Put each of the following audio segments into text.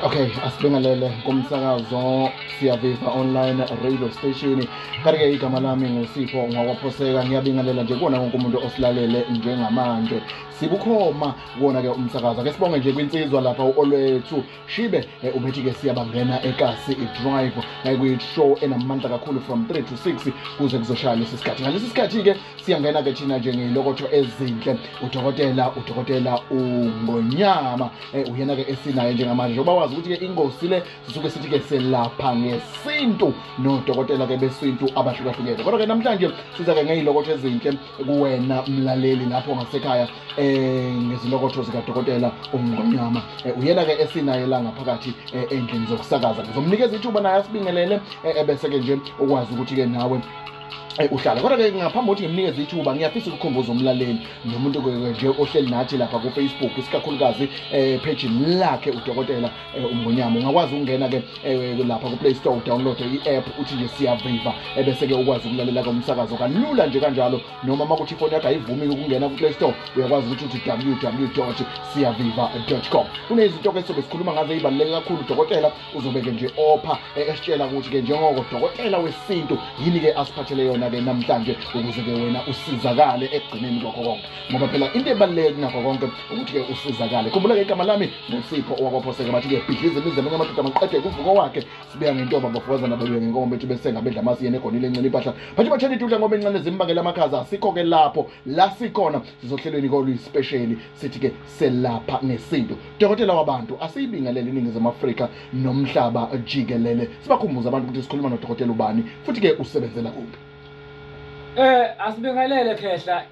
okay asibingelele kumsakazo siyaviva online radio station kanti-ke igama lami ngusipho ngwakwaphoseka ngiyabingelela nje kuwona wonke umuntu osilalele njengamanje sibukhoma kuwona-ke umsakazo ake sibonge nje kwinsizwa lapha u-olwethu shibe eh, ubethi-ke siyabangena ekasi idrive eh, kuyishow enamandla kakhulu from 3 to 6 kuze kuzoshaya lesi sikhathi ngalesi sikhathi-ke siyangena-ke thina njengeyilokotho ezinhle udokotela udokotela ungonyama eh, uyena-ke esinaye njengamanje njengoba wazi ukuthi-ke ingosi le sisuke sithi-ke selapha ngesintu nodokotela-ke besintu abahlukahlukene kodwa-ke namhlanje siza-ke ngeyilokotho ezinhle kuwena mlaleli lapho ngasekhaya eh ngezilokotho zikadokotela umngonyama eh, uyena ke esinaye la ngaphakathi eh, endlini zokusakaza ngizomnikeza ithuba naye asibingelele eh, ebese ke nje ukwazi ukuthi ke nawe Eh, uhlala kodwa ke ngaphambi kokuthi ngimnikeze ithuba ngiyafisa ukukhumbuza umlaleli nomuntu nje ohleli nathi lapha kufacebook isikakhulukazi um eh, phejini lakhe udokotela eh, umngonyama ungakwazi ukungena ke eh, lapha ku Play Store download i-app uthi nje siyaviva ebese ke ukwazi ukulalela ke umsakazo kalula nje kanjalo noma uma kuthi ifoni yakho ayivumi ukungena ku Play Store uyakwazi ukuthi uthi www.siyaviva.com kunezinto ke sobe sikhuluma ngazo ezibaluleke kakhulu dokotela uzobe ke nje opha eh, esitshela ukuthi ke njengoko dokotela wesintu yini ke asiphathele yona ke namhlanje ukuze ke wena usizakale ekugcineni kwakho konke ngoba phela into ebaluleke kunakho konke ukuthi-ke usizakale khumbula-ke igama lami ngusipho owakwaphoseka bathi-ke bhidliza imizi amanye amadoda maqede kuvuko wakhe sibeya ngentoba bafukazana babiwe ngenkomo bethu besenga bedla amasi yena egonile encela impahla bathi bathela idudla ngoba incane zimbangele amakhaza asikho-ke lapho la sikhona sizohlelweni koluyisipesheli sithi-ke selapha ngesintu dokotela wabantu asiyibingelele iningizimu afrika nomhlaba jikelele sibakhumbuze abantu ukuthi sikhuluma nodokotela ubani futhi-ke usebenzela kuphi um asibingelele khehla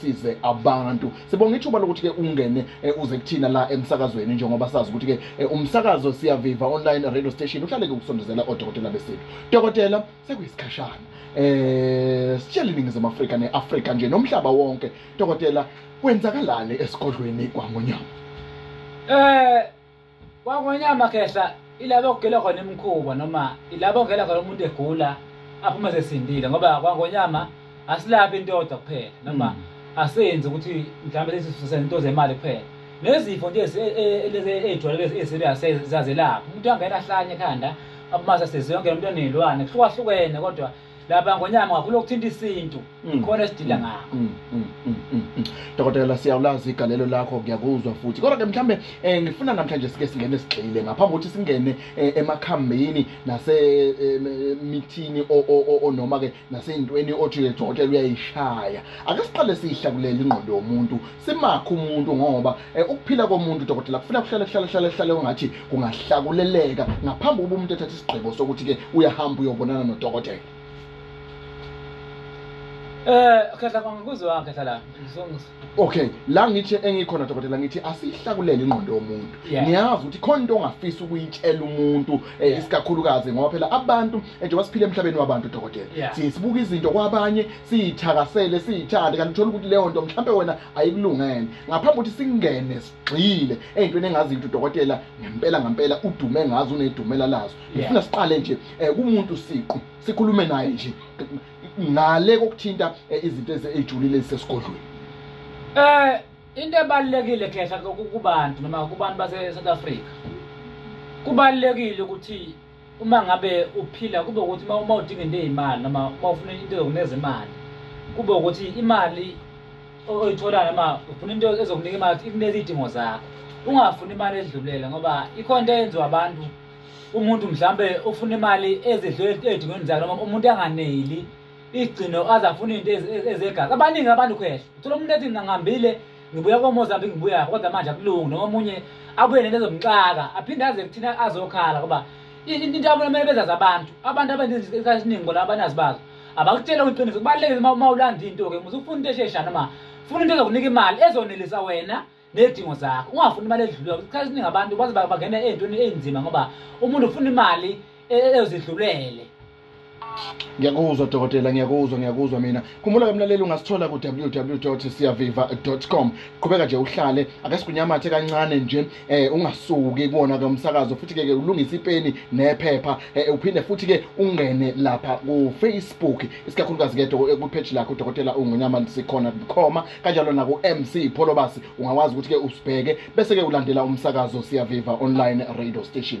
size abantu sibonga ithuba lokuthi ke ungene eh, uze kuthina la emsakazweni njengoba sazi ukuthi ke eh, umsakazo siyaviva online radio station uhlale ke ukusondezela odokotela besintu dokotela sekuyisikhashana eh sitshela iningizimu Afrika neAfrika nje nomhlaba wonke dokotela kwenzakalani esigodlweni kwaNgonyama eh kwangonyama khehla ilaba okugela khona imikhuba noma ilaba ongela khona umuntu egula aphume sesindile ngoba kwangonyama asilaphi into yodwa kuphela noma mm. asenzi ukuthi mhlawumbe sesisento zemali kuphela nezifo nje ezijwayeleke e, e, eziserious zazelapha umuntu angena ahlanye ekhanda abumasa seziyonke emntwaneni ilwane kuhlukahlukene kodwa laba ngonyama kakhulu okuthinta isintu mm. khona esidila mm. ngakho mm, dokotela siyawulazi igalelo lakho ngiyakuzwa futhi kodwa ke mhlawumbe eh, ngifuna namhlanje sike singene sigxile ngaphambi kokuthi singene eh, emakhambini nasemithini eh, onoma ke naseyintweni othi udokotela uyayishaya ake siqale siyihlakulele ingqondo yomuntu simakhe umuntu ngoba Eh, ukuphila komuntu dokotela kufuna kuhlale kuhlale kuhlale kuhlale ungathi kungahlakuleleka ngaphambi kokuba umuntu ethathe isigqibo sokuthi-ke uyahamba uyobonana nodokotela Eh khehla kwami kuzwe wakhe hlala ngizongisa. Okay, la ngithi engikhona dokotela ngithi asihlakulele ingqondo yomuntu. Ngiyazi ukuthi khona into ongafisa ukuyitshela umuntu eh, isikakhulukazi ngoba phela abantu njengoba siphila emhlabeni wabantu dokotela. Sibuka izinto kwabanye siyithakasele siyithande kanti uthola ukuthi leyo nto mhlawumbe wena ayikulungene ngaphambi ukuthi singene sigxile ey'ntweni engazi ukuthi udokotela ngempela ngempela udume ngazo unedumela lazo ngifuna siqale nje um kumuntu siqu sikhulume naye nje ngale kokuthinta eh, izinto ezijulile ezisesigodlweni um into ebalulekile khehla kubantu noma kubantu base-south africa kubalulekile ukuthi uma ngabe uphila kube ukuthi uma uma udinga into eyimali noma uma ufuna into ezokunikeza imali kube ukuthi imali oyitholayo noma ufuna into ezokunika imali ukuthi ikuneze iy'dingo zakho ungafuni imali edlulela ngoba ikhona into eyenziwa abantu umuntu mhlambe ufuna imali ezidlule ey'dingweni zakhe noma umuntu anganeli igcino aze afune into ezegazi abaningi abantu khehla uthola umuntu ethi ngihambile ngibuya komozambique ngibuya kodwa manje akulungi noma omunye abuye nento ezomxaka aphinde aze kuthina azokhala ngoba into yabo kumele bezazi abantu abantu abenza isikhathi esiningi bona abanazi bazo abakutshela kwiqiniso kubalulekile uma ulanda into-ke muze ufuna into eshesha noma funa into ezokunika imali ezonelisa wena nezidingo zakho ungafuni imali edlulile isikhathi esiningi abantu baze bangena ey'ntweni ey'nzima ngoba umuntu ufuna imali ezidlulele ngiyakuzwa dokotela ngiyakuzwa ngiyakuzwa mina khumbula ke mlaleli ungasithola ku-www siyaviva com qhubeka nje uhlale ake sikunyamathe kancane nje um ungasuki kuwona ke umsakazo futhi-ke ke ulungise ipeni nephepha um uphinde futhi-ke ungene lapha kufacebook isikakhulukazi ke kwipheji lakho udokotela ungonyama sikhona bukhoma kanjalo naku-mc pholobasi ungakwazi ukuthi-ke usibheke bese-ke ulandela umsakazo siyaviva online radio station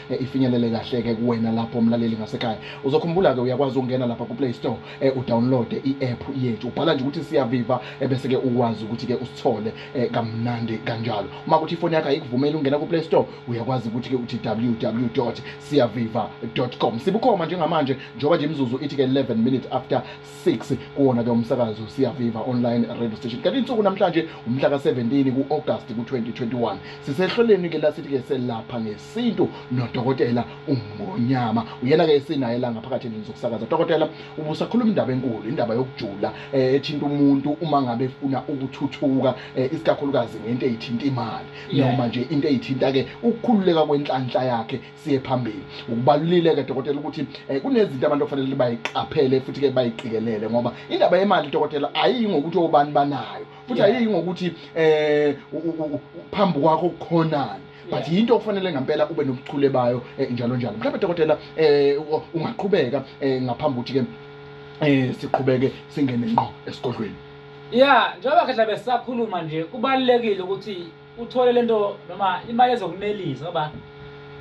eh, ifinyelele kahle-ke kuwena lapho mlaleli ngasekhaya uzokhumbula-ke uyakwazi ukungena lapha kuplay store eh, udownloade i-app yethu ubhala nje ukuthi siyaviva eh, bese-ke ukwazi ukuthi-ke usithole eh, kamnandi kanjalo uma kuthi ifoni yakho ayikuvumeli ungena kuplay store uyakwazi ukuthi-ke uthi www siyaviva com sibukhoma njengamanje njengoba nje imizuzu ithi-ke 11 minutes after 6 kuwona-ke umsakazo siyaviva online radio station kanti insuku namhlanje umhla ka-17 ku-august ku-2021 sisehloleni-ke lasithi-ke selapha ngesi yesintu nodokotela uMngonyama uyena-ke esinaye la ngaphakathi endlini zokusakaza dokotela ubusakhuluma indaba enkulu indaba yokujula eh, ethinta umuntu uma ngabe efuna ukuthuthuka eh, isikakhulukazi ngento eyithinta imali noma nje into eyithinta-ke ukukhululeka kwenhlanhla yakhe siye phambili ukubalulile-ke dokotela ukuthi eh, kunezinto abantu okufanele bayiqaphele futhi-ke bayiqikelele ngoba indaba yemali dokotela ayiyi ngokuthi obani banayo futhi ayiyi ngokuthi um phambi kwakho kukhonani but yinto okufanele ngempela ube nobuchule bayo eh, njalo njalo mhlawumbe dokotela eh, ungaqhubeka eh, ngaphambi ukuthi ke eh siqhubeke singene ngqo esigodlweni yeah njengoba khehla besakhuluma nje kubalekile ukuthi uthole lento noma imali ezokunelisa ngoba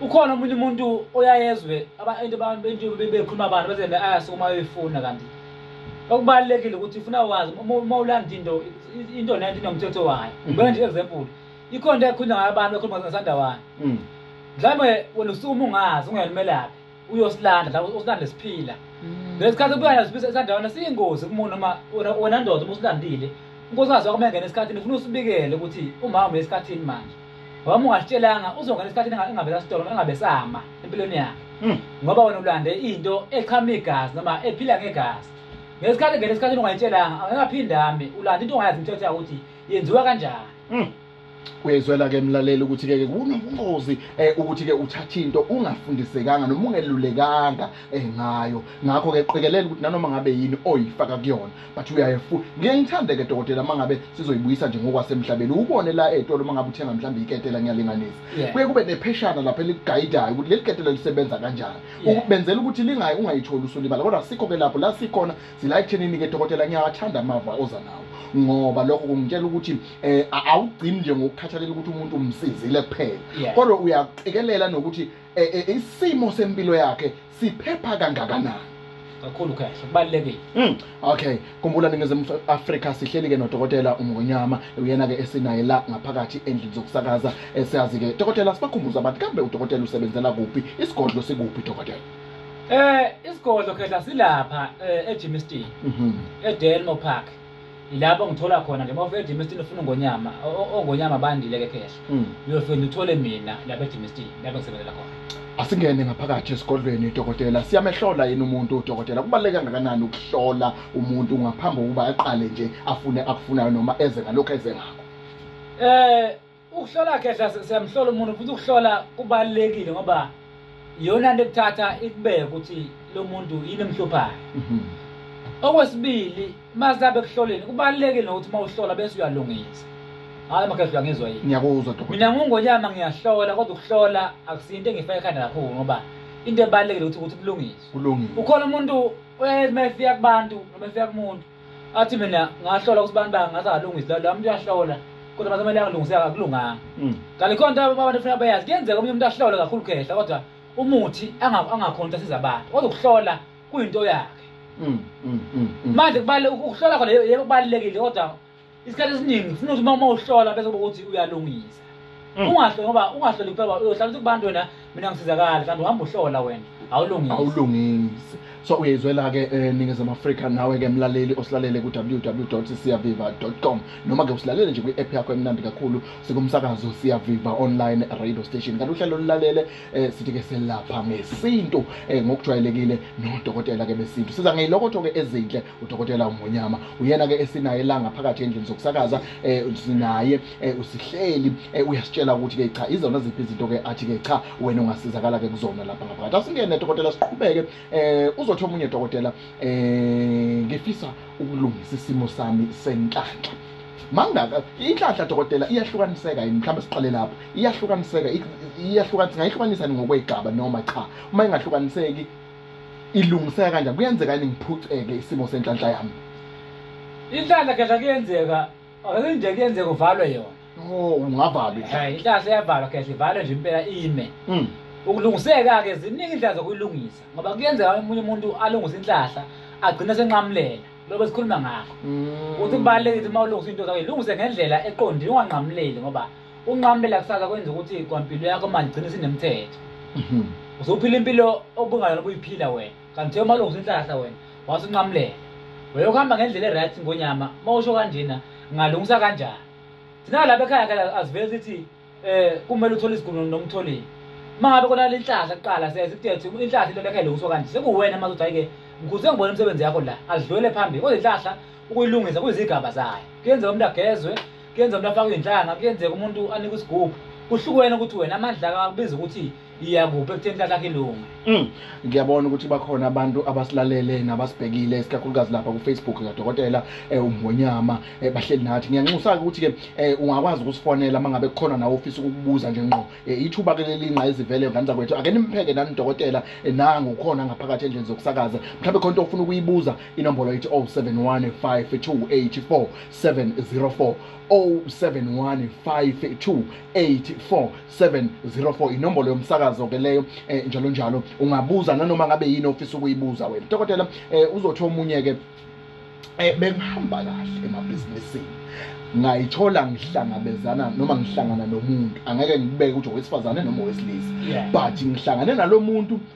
ukhona omunye umuntu oyayezwe abantu abantu bentu bekhuluma abantu bese le ayase uma uyifuna kanti okubalekile ukuthi ufuna wazi uma ulanda into into nento inomthetho wayo ngeke nje example ikhona into ekhulunywa ngayo abantu ekhuluma ngasandawana mm. mhlawumbe wena usuma ungazi ungayalumelaphi uyosilanda la usilande siphila mm. lesikhathi kubuyana sibisa isandawana siyingozi kumuntu noma wena ndoda uma usilandile unkosikazi wakho mengena esikhathini ufuna usibikele ukuthi umama uye esikhathini manje wami ungasitshelanga uzongena esikhathini engabesasitolo engabesama empilweni yakhe mm. ngoba wena ulande into echama igazi noma ephila ngegazi ngesikhathi ngena esikhathini ungayitshelanga angengaphindami ulanda into ongayazi imithetho yakuthi yenziwa kanjani Mm. Uyezwela ke mlaleli ukuthi ke kunobungozi eh ukuthi ke uthatha into ungafundisekanga noma ungelulekanga eh ngayo ngakho ke qikelela ukuthi nanoma ngabe yini oyifaka kuyona but uyayefu ngeke ngithande ke dokotela mangabe sizoyibuyisa nje ngokwasemhlabeni ubone la etolo mangabe uthenga mhlawumbe iketela ngiyalinganisa Yeah. kuye kube nepheshana lapha eliguidayo ukuthi leli ketela lisebenza kanjani Yeah. ukubenzela ukuthi lingayi ungayitholi usulibala kodwa sikho ke lapho la sikhona sila ekuthenini ke dokotela ngiyawathanda amava oza nawo ngoba lokho kungitshela ukuthi eh awugcini nje ngokukhathalela ukuthi umuntu umsizile kuphela kodwa uyaqikelela nokuthi eh, eh, isimo sempilo yakhe siphepha kangakanani kakhulu kahle kubalulekile mm. okay kumbula ningizimu afrika sihleli ke nodokotela umngonyama uyena ke esinaye la ngaphakathi endlini zokusakaza esiyazi ke dokotela sibakhumbuza abantu kambe udokotela usebenzela kuphi isigodlo sikuphi dokotela Eh isigodlo khehla silapha eh, eGymston Mhm. eDelmo Park. Yilapho ngithola khona nje mawufika eGymston ufuna ngonyama ongonyama bandile ke khehla. Mm. Uyofika uthole mina lapha eGymston lapho ngisebenzela khona. Asingene ngaphakathi esigodlweni udokotela siyamehlola yini umuntu udokotela kubaluleke kangakanani ukuhlola umuntu ngaphambi kokuba aqale nje afune akufunayo noma eze ngalokho eze ngakho. Eh ukuhlola khehla siyamhlola umuntu futhi ukuhlola kubalulekile ngoba iyona nto ekuthatha ikubeke ukuthi lo muntu yini emhluphayo mhm. okwesibili uma sabe kuhloleni kubalulekile nokuthi uma uhlola bese uyalungisa hayi makhehla uyangizwa yini ngiyakuzwa dokotela mina ngungonyama ngiyahlola kodwa ukuhlola akusinto engifaka ekhanda kakhulu ngoba into ebalulekile ukuthi ukuthi kulungiswe kulungiswe ukhona umuntu uma efika kubantu noma efika kumuntu athi mina ngahlola ukuthi abantu bangathi akalungisi lento umuntu uyahlola kodwa mase kumele angalungisi akulunganga mm. kanti khona into abantu kufuneka bayazi kuyenzeka omunye umuntu ahlole kakhulu khehla kodwa umuthi angakhona ukuthi asiza abantu kodwa ukuhlola kuyinto yakhe mm, mm, manje kubalulekile ukuhlola khona yebo kubalulekile kodwa isikhathi esiningi ufuna ukuthi uma uhlola bese kuba ukuthi uyalungisa mm. ungahle ngoba ungahloli kuphela uyohlala ukuthi kubantu wena mina ngisizakala mhlawumbe uhamba uhlola wena awulungisi awulungisi so uyayizwela-ke um eh, ningizimu afrika nawe-ke mlaleli osilalele ku-ww siyaviva com noma-ke usilalele nje kwi-app yakho emnandi kakhulu sikumsakazo siyaviva online radio station kanti uhlelo olulalele um eh, sithi-ke selapha ngesintu um ngokujwayelekile nodokotela-ke besintu siza ngeyilokotho-ke ezinhle udokotela umonyama uyena ke esinaye la ngaphakathi endlini zokusakaza eh sinaye eh, usihleli eh, uyasitshela ukuthi ke cha izona ziphi izinto ke athi ke cha wena ungasizakala ke kuzona lapha ngaphakathi asingene dokotela siqhubeke eh uzothi omunye dokotela eh ngifisa ukulungisa isimo sami senhlanhla mangaka inhlanhla dokotela iyahlukaniseka yini mhlawumbe siqale lapho iyahlukaniseka iyahlukaniseka ngayihlukanisa ngokwegaba noma cha uma ingahlukaniseki ilungiseka kanjani kuyenzeka yini ngiphuceke isimo senhlanhla yami inhlanhla khehla kuyenzeka akenje kuyenzeka uvalwe yona oh ungavalwa eh inhlanhla iyavalwa khehla ivalwe nje impela ime mm. ukulungiseka-ke ziningi indlela zokuyilungisa ngoba kuyenzeka omunye umuntu alungise inhlahla agcine senqamulela lobe sikhuluma ngakho mm. ukuthi kubalulekile ukuthi uma ulungisa into zakho ilungise ngendlela eqondile unganqamuleli ngoba unqamlela kusasa kwenza ukuthi kwampilo yakho manje igcine sinemthetho mhm. uzophila impilo obungayona kuyiphila wena kanti thiyo malungu sinhlahla wena wase unqamulela weyokuhamba ngendlela eright ngonyama uma usho kanjena ngalungisa kanjani thina lapha ekhaya kala azivele sithi um kumele uthole isigunu nomtholile uma ngabe kona le nhlahla kuqala siyaye sikutethi inhlahla into lekha ilungiswa kanje sekuwena mazi ukuthi hayi-ke mkhulu sengibona imisebenzi yakho la azidlulele phambili kodwa inhlahla ukuyilungisa kuyizigaba zayo kuyenzeka umuntu agezwe kuyenzeka umuntu afake inhlanga kuyenzeka umuntu anike isigubhu kuhlukene ukuthi wena amandla akubiza ukuthi iyakuphi ekutheni inhlahla yakho ilunga Mm. ngiyabona ukuthi bakhona abantu abasilalele nabasibhekile isikakhulukazi lapha kufacebook kadokotela um umngonyama um bahleli nathi ngiyanxusa-ke ukuthi-ke um ungakwazi ukusifonela uma ngabe kukhona nawe ofisa ukukubuza nje ngqo um ithuba-ke lelinqa ezivele ngane zakwethu ake nimpheke nani udokotela eh, nangu ukhona ngaphakathi endlini zokusakaza mhlawumbe khona into ofuna ukuyibuza inombolo ithi 071 5 284 704 0715284704 inombolo yomsakazo ke leyo eh, njalo njalo ungabuza nanoma ngabe yini ofisa ukuyibuza wena dokotela eh, uzothi omunye ke eh, bengihamba kahle emabhizinisini ngayithola ngihlangabezana noma ngihlangana nomuntu angeke ngibeke ukuthi owesifazane noma owesilisa but ngihlangane nalomuntu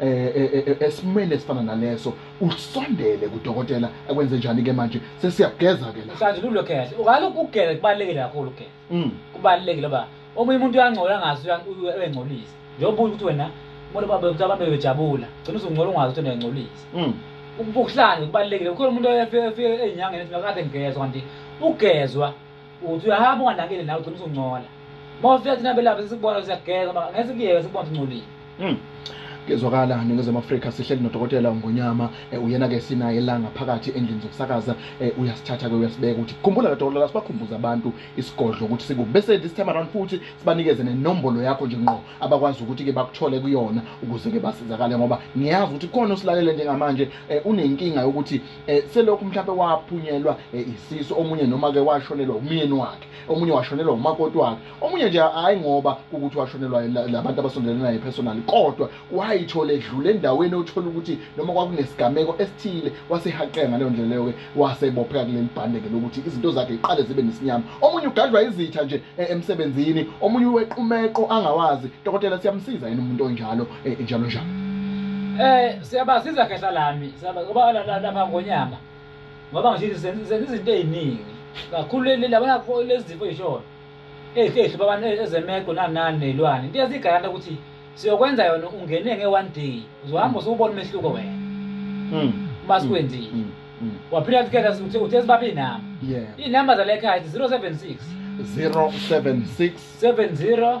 eh, eh, eh, esimweni esifana naleso usondele kudokotela akwenze njani ke manje sesiyageza ke la manje lulo kahle ukaloku ugele kubalekile kakhulu ke mm. kubalekile ba omunye umuntu uyangcola ngazi uyangcolisa njengoba ukuthi wena umuntu babe ukuthi abantu bejabula gcina uzungcola ungazi ukuthi uyangcolisa mm. ukuhlanje kubalekile ukhona umuntu oyefike enyangeni ethi ngakade ngigezwa kanti ugezwa uthi uyahamba unganakile nawe ugcina usungcola uma ufika thina belapha sesikubona siyageza ma ngeke sikuyeke sikubona singcolile Mm. Kezwakala ningezwe Afrika sihleli nodokotela uNgonyama eh, uyena ke sinaye la ngaphakathi endlini zokusakaza eh, uyasithatha ke uyasibeka ukuthi khumbula ke dokotela sibakhumbuza abantu isigodlo ukuthi siku bese this time around futhi sibanikeze nenombolo yakho nje ngqo abakwazi ukuthi ke bakuthole kuyona ukuze ke basizakale ngoba ngiyazi ukuthi khona usilalele njengamanje eh, unenkinga yokuthi eh, selokhu mhlawumbe waphunyelwa eh, isisu omunye noma ke washonelwa umyeni wakhe omunye washonelwa umakoti wakhe omunye nje hayi ngoba ukuthi washonelwa labantu abasondelene naye personally kodwa wayithola edlule endaweni othola ukuthi noma kwakunesigameko esithile wasehaqeka ngaleyo ndlela leyo ke wasebopheka kuleli bhande ke lokuthi izinto zakhe iqale zibe nesinyama omunye ugadlwa izitha nje eh, emsebenzini omunye uwequmeqo angawazi dokotela siyamsiza yini umuntu onjalo eh, njalo njalo eh siyabazi izakhehla lami siyabazi ngoba lapha ngonyama ngoba ngisho senza izinto eziningi kakhulu leli labona lezifo ezishona ehlehlo babana ezemeko nanani nezilwane into yazigaranta ukuthi siyokwenza yona ungene nge one day uzohamba usubona umehluko wena mm masikwenzile mm, mm, mm. waphila tikhetha uthe uthe sibabi nama yeah inamba zalekhaya 076 076 70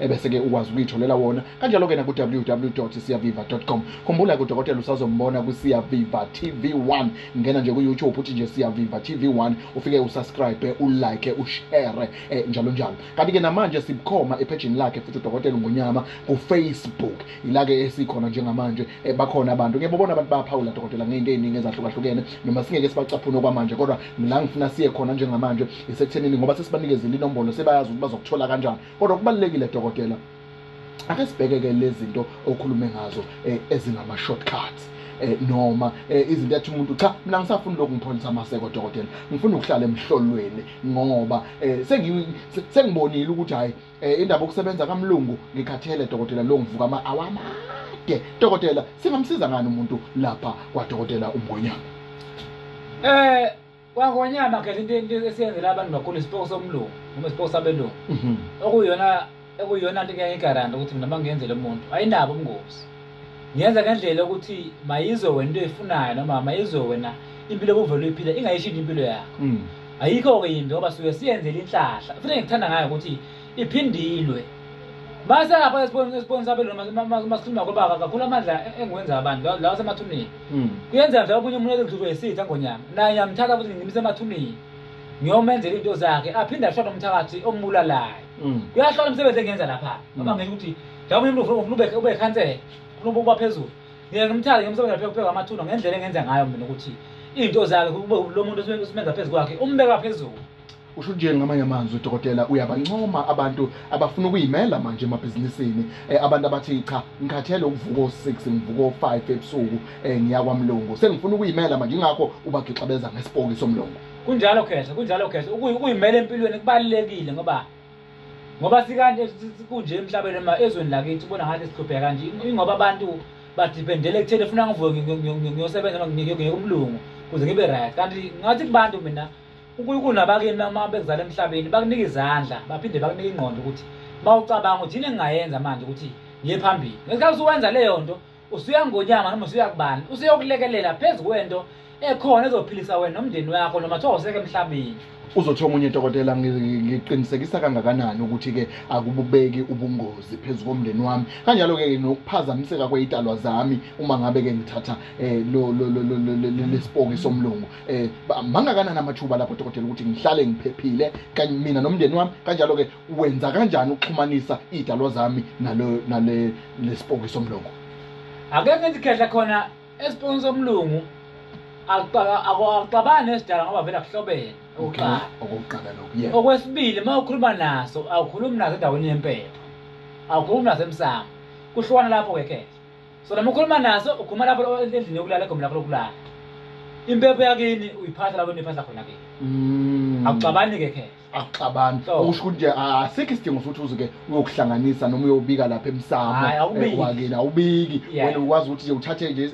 ebese-ke ukwazi ukuyitholela wona kanjalo-ke naku-ww siyaviva com khumbula ke udokotela usazombona kwisiyaviva tv 1 ngena nje ku-youtube uthi nje siyaviva tv 1 ufike usubscribe ulike ushere eh, njalo njalo kanti-ke namanje sibukhoma ephejini lakhe futhi udokotela ungonyama kufacebook ila-ke esikhona njengamanje eh, bakhona abantu ngeke bobona abantu bayaphawula dokotela ngey'nto ey'ningi ezahlukahlukene noma singeke sibacaphune okwamanje kodwa la ngifuna siye khona njengamanje isekuthenini ngoba sesibanikezile inombolo sebayazi ukuthi bazokuthola kanjani kodwa kubalulekile dokotela ake sibhekeke lezinto okhulume ngazo eh, ezingama shortcuts eh, noma eh, izinto ethi umuntu cha mina ngisafuna lokhu ngipholisa amaseko dokotela ngifuna ukuhlala emhlolweni ngoba sengibonile ukuthi hayi indaba okusebenza kamlungu ngikhathele dokotela lo ngivuka ama awama ke dokotela singamsiza ngani umuntu lapha kwadokotela umgonyana eh kwangonyama khetha into into esiyenzela abantu bakhulu isipoko somlungu noma isipoko sabelungu Mhm. okuyona okuyona nto ngeke igaranta ukuthi mina mangenzele umuntu ayinabo ubungozi ngenza ngendlela yokuthi mayizwe wena into eyifunayo noma mayizwe wena impilo obuvele uyiphila ingayishintsha impilo yakho Mm. ayikho-ke yimbi ngoba suke siyenzele inhlahla futhi engikuthanda ngayo ukuthi iphindilwe mase apha esiboni sabelungu masikhuluma kobaba kakhulu amandla engiwenza abantu lawa semathuneni Mm. Kuyenzeka nje omunye umuntu ekudluzwe yisitha ngonyama. Naye yamthatha futhi ngimise emathuneni. Ngiyomenzela into zakhe aphinde ashona umthakathi ombulalayo. Mm. Kuyahlola umsebenzi engenza lapha. Mm. Ngoba ngisho ukuthi njengoba umuntu ufuna ube ube khansela, ufuna ukuba phezulu. Ngeke ngimthale ngimsebenza lapha kupheka amathuna ngendlela engenza ngayo mina ukuthi into zakhe kube lo muntu usimenza phezulu kwakhe umbeka phezulu. Usho nje ngamanye amazwi dokotela uyabancoma abantu abafuna ukuyimela manje emabhizinisini eh, abantu abathi cha ngikhathele ukuvuka o6 ngivuka o5 ebusuku eh, ngiya kwamlungu sengifuna ukuyimela manje ingakho ubagixabeza ngesipoki somlungu kunjalo khehla kunjalo khehla ukuyimela empilweni kubalekile ngoba ngoba sikanti kunje emhlabeni ma ezweni lakithi ubona ngathi sihlupheka kanje ingoba abantu badependele ekutheni funa ngivuke ngiyosebenza ngiyokumlungu kuze ngibe right kanti ngathi kubantu mina uNkulunkulu nabakini uma bekuzala emhlabeni bakunika izandla baphinde bakunika ingqondo ukuthi uma ucabanga ukuthi yini engingayenza manje ukuthi ngiye phambili ngesikhathi usuwenza leyo nto usuya ngonyama noma usuya kubani usuyokulekelela phezu kwento ekhona ezophilisa wena nomndeni wakho noma kuthiwa useke emhlabeni uzothiwa omunye dokotela ngiqinisekisa kangakanani ukuthi-ke akububeki ubungozi phezu komndeni wami kanjalo-ke nokuphazamiseka kweyitalwa zami uma ngabe-ke ngithatha um lesipoki somlungu eh mangakanani amathuba lapho dokotela ukuthi ngihlale ngiphephile kanye mina nomndeni wami kanjalo ke wenza kanjani ukuxhumanisa idalo zami nalo nale lesipoki somlungu ake ngithi khehla khona esipoki somlungu akuxabani esidala ngoba vele akuhlobene okokuqala okokuqala lokhu yeah okwesibili uma ukhuluma naso awukhulumi naso endaweni yempepho awukhulumi naso emsamo kuhlukana lapho ke khehla so noma ukhuluma naso ukhuluma lapho endlini yokulala egomeni lakho lokulala impepho yakini uyiphatha lapho niphatha khona kini Mm. akuxabani-ke khe akuxabani So. okusho ukuthi nje asikho isidingo sokuthi uzuke uyokuhlanganisa noma uyobika lapha Hhayi, emsamo awubiki. eh, wakini awubiki Yeah. wena ukwazi ukuthi nje uthathe nje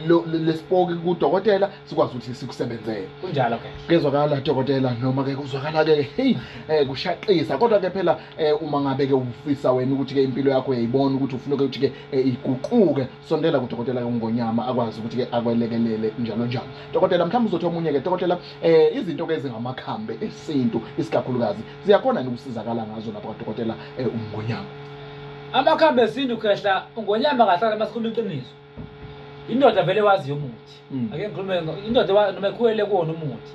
lo- lo- lesipoki kudokotela sikwazi ukuthi sikusebenzele kunjalo khe kuyezwakala dokotela noma ke kuzwakala ke heyi um kushaqisa kodwa ke phela eh uma ngabe ke ufisa wena ukuthi ke impilo yakho uyayibona ukuthi ufuna ukuthi ke eh, iguquke sondela kudokotela ongonyama akwazi ukuthi ke akwelekelele njalo njalo dokotela mhlawumbe uzothi omunye ke dokotela eh izinto ke ezingamakhambe esintu isikakhulukazi ziyakhona ukusizakala ngazo lapha kadokotela eh, ungonyama amakhambe esintu khehla ungonyama kahlala masikhuluma iqiniso indoda vele waziyo umuthi mm. ake ngikhulume indoda noma ekhulele kuwona umuthi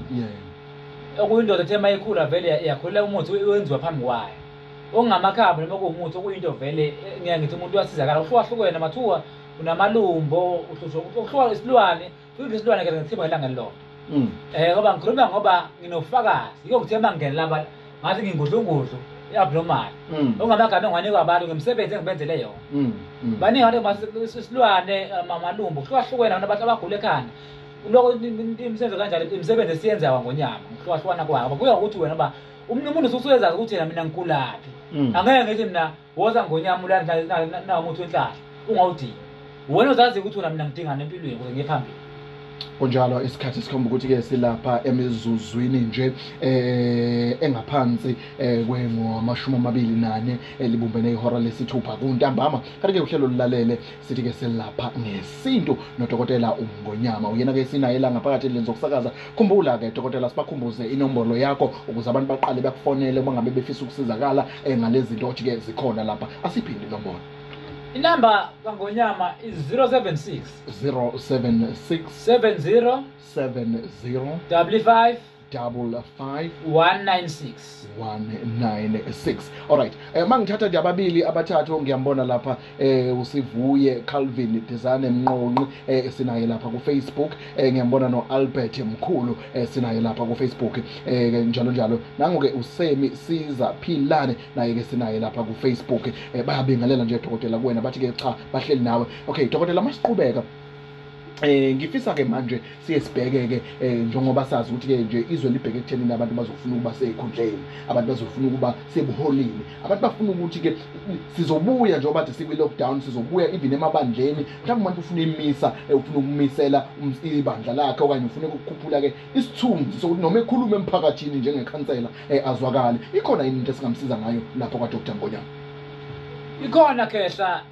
okuyindoda ethe mayikhula vele yakhulela umuthi wenziwa phambi kwayo okungamakhambi noma kuwumuthi okuyinto vele eh, ngiya ngithi umuntu uyasizakala uhlukahlukene mathuwa unamalumbo uhlushwa isilwane Kuyike isilwane ke ngithibwa ilanga lilodwa. Mm. Eh ngoba ngikhuluma ngoba nginofakazi. Yiko ngithe mangena laba ngathi ngingudlungudlu abnormal. Mm. Ongamagama engiwanikwa abantu ngemisebenzi engibenzele yona. Mm. Mm. Baningi abantu masisilwane eh, mamalumbu kuhlukahlukene abantu abantu abagula ekhanda. Lokho imisebenzi kanjalo imisebenzi esiyenzayo ngonyama ngihlukahlukana kwabo. Kuya ukuthi wena ba umuntu umuntu ususezazi ukuthi yena mina ngikulaphi. Mm. Angeke ngithi mina woza ngonyama ulanawumuthi wenhlahla ungawudingi wena uzazi ukuthi wena mina ngidingani empilweni ukuze ngiye phambili kunjalo isikhathi sikhomba ukuthi-ke silapha emizuzwini nje eh engaphansi eh kwengomashumi amabili nane elibumbene ihora lesithupha kuntambama kanti-ke uhlelo lulalele sithi ke selapha ngesintu nodokotela umngonyama uyena ke sinaye la ngaphakathi endlini zokusakaza khumbula ke dokotela sibakhumbuze inombolo yakho ukuze abantu baqale bakufonele uma ngabe befisa ukusizakala eh, ngalezi zinto othi ke zikhona lapha asiphinde inombolo inamba kangonyama i-076 076 70 70 55 double five one nine six one nine six all right eh, uma ngithatha nje ababili abathathu ngiyambona lapha eh, usivuye calvin dizane mnqonqi eh, sinaye lapha kufacebook eh, ngiyambona no-albert mkhulu eh, sinaye lapha kufacebook eh, njalo njalo nango-ke usemi siza philane naye-ke sinaye lapha kufacebook eh, bayabingelela nje dokotela kuwena bathi-ke cha bahleli nawe okay dokotela masiqhubeka Eh ngifisa ke manje siye sibheke ke eh, njengoba sazi ukuthi ke nje izwe libheke ekuthenini abantu bazofuna ukuba sekhundleni abantu bazofuna ukuba sebuholini abantu bafuna ukuthi ke sizobuya njengoba bathi sikwi lockdown sizobuya even emabandleni mhlawumbe umuntu ufuna imisa eh, ufuna ukumisela ibandla lakhe okanye ufuna ukukhuphula ke isithunzi sokuthi noma ekhuluma emphakathini njengekhansela eh, azwakale ikhona yini into esingamsiza ngayo lapho kwa Dr Ngonyama ikhona khehla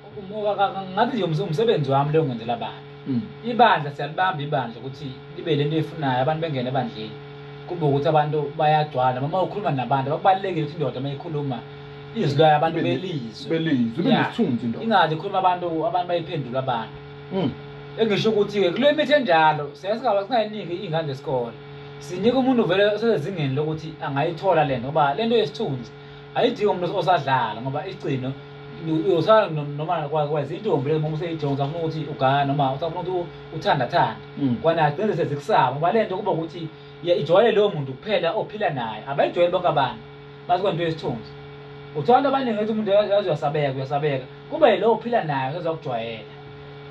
ngathi nje umsebenzi wami leyo ngenzela abantu hmm. ibandla siyalibamba ibandla ukuthi libe le nto eyifunayo abantu bengene ebandleni kube ukuthi abantu bayagcwala noma ukhuluma nabantu bakubalulekile ukuthi indoda uma ikhuluma izwi layo abantu belizwe ingathi ikhuluma abantu abantu bayiphendula abantu hmm. engisho ukuthi-ke kule mithi enjalo singayiniki iy'ngane zesikole sinika umuntu vele osezingeni lokuthi angayithola le nto ngoba le nto yesithunzi ayidingi umuntu osadlala ngoba igcino uyosala noma kwakwazi intombi le ngoba useyijonga usafuna ukuthi ugana noma usafuna ukuthi uthandathanda mm. kwana agcine sezikusaba ngoba le nto kuba ukuthi ijwayele lowo muntu kuphela ophila naye abayijwayele bonke abantu bathi kwento yesithunzi uthola into abaningi ukuthi umuntu yazi uyasabeka uyasabeka kuba yilowo ophila naye usezakujwayela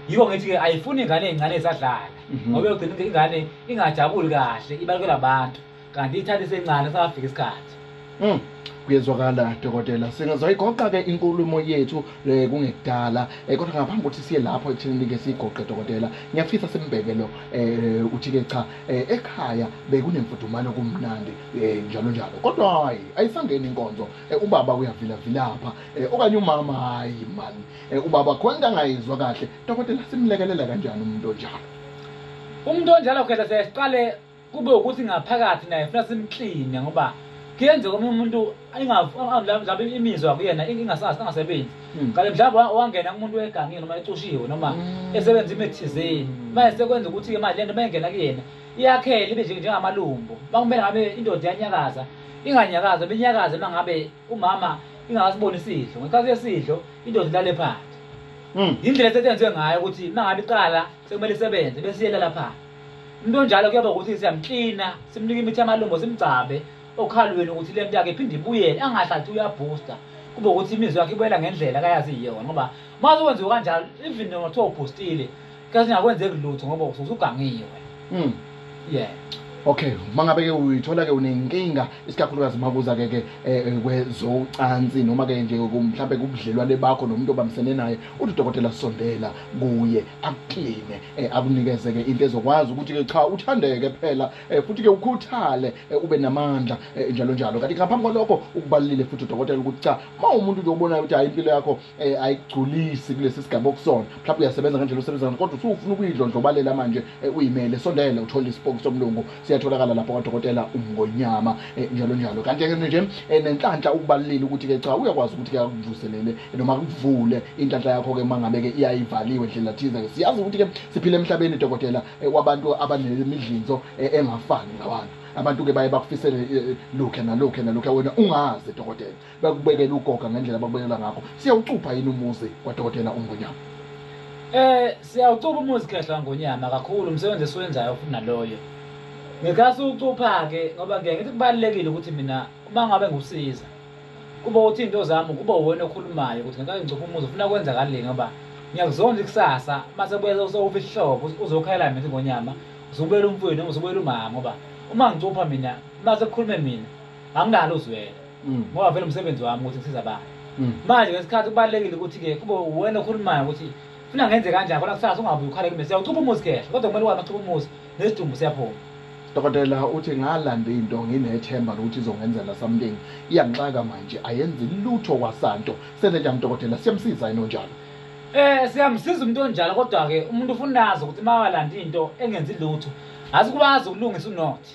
yiko ngithi-ke ayifuni ingane ey'ncane esadlala mhm. ngoba yogcina ingane ingajabuli kahle ibalukela abantu kanti ithanda isencane safika isikhathi mm. kuyezwakala dokotela singazoyigoqa-ke inkulumo yethu um kungekudala um kodwa ngaphambi kokuthi siye lapho ekuthenini-ke siyigoqe dokotela ngiyafisa simbheke lo um uthi-ke cha um ekhaya bekunemfudumalo kumnandi um njalo njalo kodwa hhayi ayisangeni inkonzo um ubaba uyavilavilapha um okanye umama hhayi mani um ubaba khona into angayizwa kahle dokotela simlekelela kanjani umuntu onjalo umuntu onjalo khetha sesiqale kube ukuthi ngaphakathi naye funa simkline ngoba kuyenzeka omunye umuntu mhlawumbe imizwa kuyena ingasebenzi hmm. kanti mhlawumbe wangena kumuntu wegangile noma ecushiwe noma hmm. esebenza imithizeni hmm. manje sekwenza ukuthi imali lento mayengena kuyena iyakhele ibe njengamalumbo makumele ngabe indoda yanyakaza inganyakaza benyakaze uma ngabe umama ingakasiboni isidlo ngesikhathi yesidlo indoda ilale phansi yindlela esetshenziswe ngayo ukuthi uma ngabe iqala sekumele isebenze bese iyela lapha umuntu onjalo kuyoba ukuthi siyamklina simnike imithi yamalungu simgcabe okhalweni ukuthi le nto yakhe iphinde ibuyele angahlathi uyabhusta kube ukuthi imizwa yakhe ibuyela ngendlela akayazi iyona ngoba uma uzokwenziwa kanjalo even noma kuthiwa ubhustile kasingakwenzeki lutho ngoba usugangiwe hmm. yeah okay uma ngabe ke uyithola ke unenkinga isikakhulukazi uma kuza ke ke eh, eh, kwezocansi noma ke nje mhlawumbe kubudlelwane bakho nomuntu obambisene naye uthi udokotela sondela kuye akukline eh, akunikeze ke into ezokwazi ukuthi ke cha uthandeke phela futhi ke ukhuthale ube namandla njalo njalo kanti ngaphambi kwalokho ukubalulile futhi udokotela ukuthi cha uma umuntu nje obonayo ukuthi hayi impilo yakho eh ayigculisi kulesi sigaba okusona mhlawumbe uyasebenza ngendlela osebenza ngayo kodwa usufuna ukuyidlondlobalela manje eh, uyimele sondele uthole isipoki somlungu siyatholakala lapha kwadokotela umngonyama eh, njalo njalo kanti ke nje eh, nenhlanhla ukubalulile ukuthi ke cha uyakwazi ukuthi ke akuvuselele noma kuvule inhlanhla yakho ke mangabe ke iyayivaliwe ndlela thize ke siyazi ukuthi ke siphile emhlabeni dokotela wabantu abanemidlinzo engafani ngabantu abantu ke baye bakufisele lokhe nalokhe nalokhe wena ungazi dokotela bakubekela ugoga ngendlela bakubekela ngakho siyawucupha yini umuzi kwadokotela umngonyama eh siyawucupha umuzi khehla ngonyama kakhulu umsebenzi esiwenzayo futhi naloyo ngikhathi ucupha-ke ngoba ngiye ngithi kubalulekile ukuthi mina uma ngabe ngikusiza kube uthi into zami kube wona okhulumayo ukuthi ngeke ngicuphe umuzi ufuna kwenzakalini ngoba ngiyakuzonda ikusasa uma sebuyeza usowufa isihlobo uzokhayela mina ngonyama uzobuyela umfwini uzobuyela umama ngoba uma ngicupha mina uma sekukhulume mina angikalo uzwela mm. ngoba vele umsebenzi wami ukuthi ngisiza abantu mm. manje ngesikhathi kubalulekile ukuthi-ke kube uwena okhulumayo ukuthi funa ngenze kanjani khona kusasa ungabuye ukhale kimi siyawucupha umuzi kehla kodwa kumele ukwazi ucupha umuzi nesidumbu siyaphuma dokotela uthi ngalanda into nginethemba lokuthi izongenzela something iyangixaka manje ayenzi lutho kwasanto senze njani dokotela siyamsiza yini onjalo eh siyamsiza umuntu onjalo kodwa-ke umuntu ufuna nazi ukuthi uma walanda into engenzi lutho asikwazi ukulungisa unothi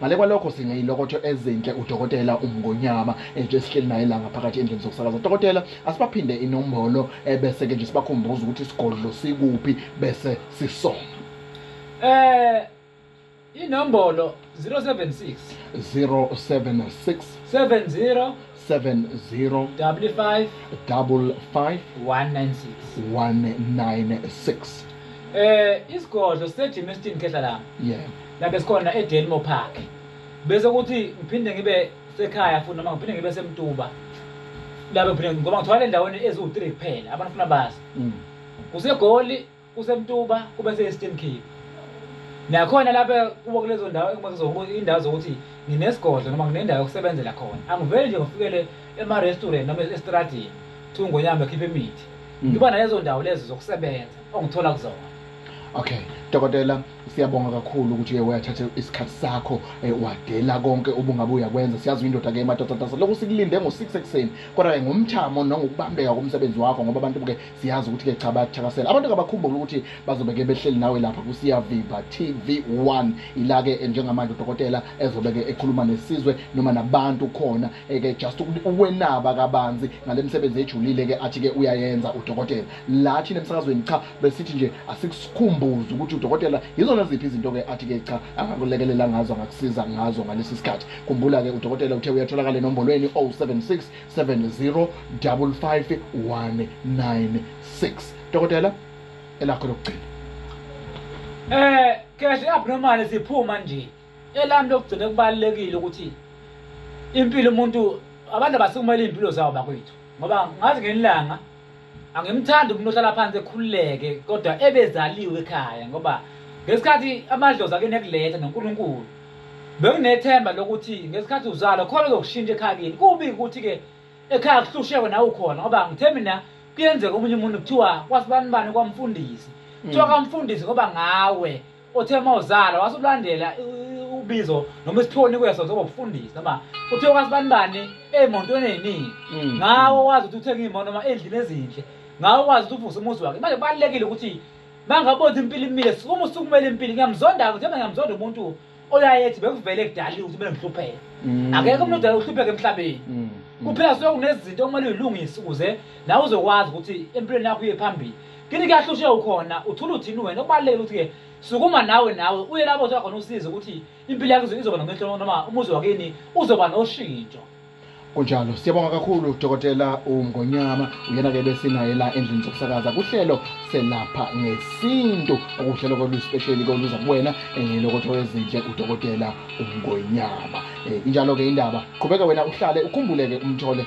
ngale kwalokho sineyilokotho ezinhle udokotela umngonyama eh, nje sihleli naye la ngaphakathi endlini zokusakaza dokotela asibaphinde inombolo eh, bese-ke nje sibakhumbuza ukuthi isigodlo sikuphi bese sisona eh inombolo 076 076 70 70 double five double five 196 196 eh isigodlo seGymnastin Khehla la yeah la besikhona eDelmo Park bese kuthi ngiphinde ngibe sekhaya futhi noma ngiphinde ngibe semtuba la bephinde ngoba ngithola endaweni eziwu3 kuphela abafuna bazi mm. kusegoli kusemtuba kube se-eastern cape nakhona lapha kubo kulezo ndawo indawo zokuthi nginesigodlo noma nginendawo yokusebenzela khona angiveli nje ngifikele ema-restaurant noma estradini kuthiwa ngonyama ekhiphe imithi mm. ngiba nalezo ndawo lezo zokusebenza ongithola kuzona okay dokotela siyabonga kakhulu ukuthi uye wayathatha isikhathi sakho eh, wadela konke ubungabe uyakwenza siyazi uyindoda ke madodatasa lokhu sikulinde ngo-six ekuseni kodwa-ke ngomthamo nangokubambeka komsebenzi wakho ngoba abantu ke siyazi ukuthi ke cha bayakuthakasela abantu kabakhumbula ukuthi bazobeke behleli nawe lapha kusiyaviva tv1 ilake eh, njengamanje udokotela ezobeke ekhuluma nesizwe noma nabantu khona eh, ke just ukwenaba kabanzi ngale msebenzi ejulile ke athi ke uyayenza udokotela la thina emsakazweni cha besithi nje asikusikhumbuze ukuthi udokotela yizona ziphi izinto ke athi ke cha angakulekelela ngazo angakusiza ngazo ngalesi sikhathi khumbula ke udokotela uthe uyatholakala enombolweni 076 70 55 196 dokotela elakho lokugcina eh kahle abnormal siphuma nje elami lokugcina kubalekile ukuthi impilo umuntu abantu abasikumele impilo zawo bakwethu ngoba ngazi ngenilanga angimthandi umuntu ohlala phansi ekhululeke kodwa ebezaliwe ekhaya ngoba ngesikhathi amadlozi akuyona ekuletha nonkulunkulu bekunethemba lokuthi ngesikhathi uzalwa khona uzokushintsha ekhaya kini kubi ukuthi-ke ekhaya kuhlushekwe nawe ukhona ngoba ngithembi na kuyenzeka omunye umuntu kuthiwa kwasibani bani kwamfundisi kuthiwa mm. kamfundisi ngoba ngawe othe uma uzala wase ulandela ubizo noma isiphiwo onikwe sona sokuba ukufundisa noma kuthiwa kwasibani bani ey'montweni ey'ningi Mm. ngawo wazi ukuthi uthenge iy'moto noma ey'ndlini ezinhle ngawo wazi ukuthi uvuse umuzi wakhe manje kubalulekile ukuthi uma ngabonza impilo imile sukuma usukumele impilo ngiyamzonda-ke njengoba ngiyamzonda umuntu oyaye ethi bekuvele kudalile ukuthi bengihlupheke Mm. akekho umuntu odala uhlupheke emhlabeni Mm. Mm. kuphela suke kunezinto okumele uyilungise ukuze nawe uzokwazi ukuthi empilweni yakho uye phambili kini kahle ushe ukhona uthula uthini wena okubaluleke ukuthi-ke sukuma nawe nawe uye lapho othola khona usize ukuthi impilo yakho izoba nomehlo noma umuzi wakini uzoba noshintsho kunjalo siyabonga kakhulu dokotela umngonyama uyena-ke besinaye la endlini zokusakaza kuhlelo selapha ngesintu okuhlelo koluspesheli koluza kuwena um eh, lokotho wezinhle udokotela umngonyama um eh, injalo-ke indaba qhubeka wena uhlale ukhumbuleke umthole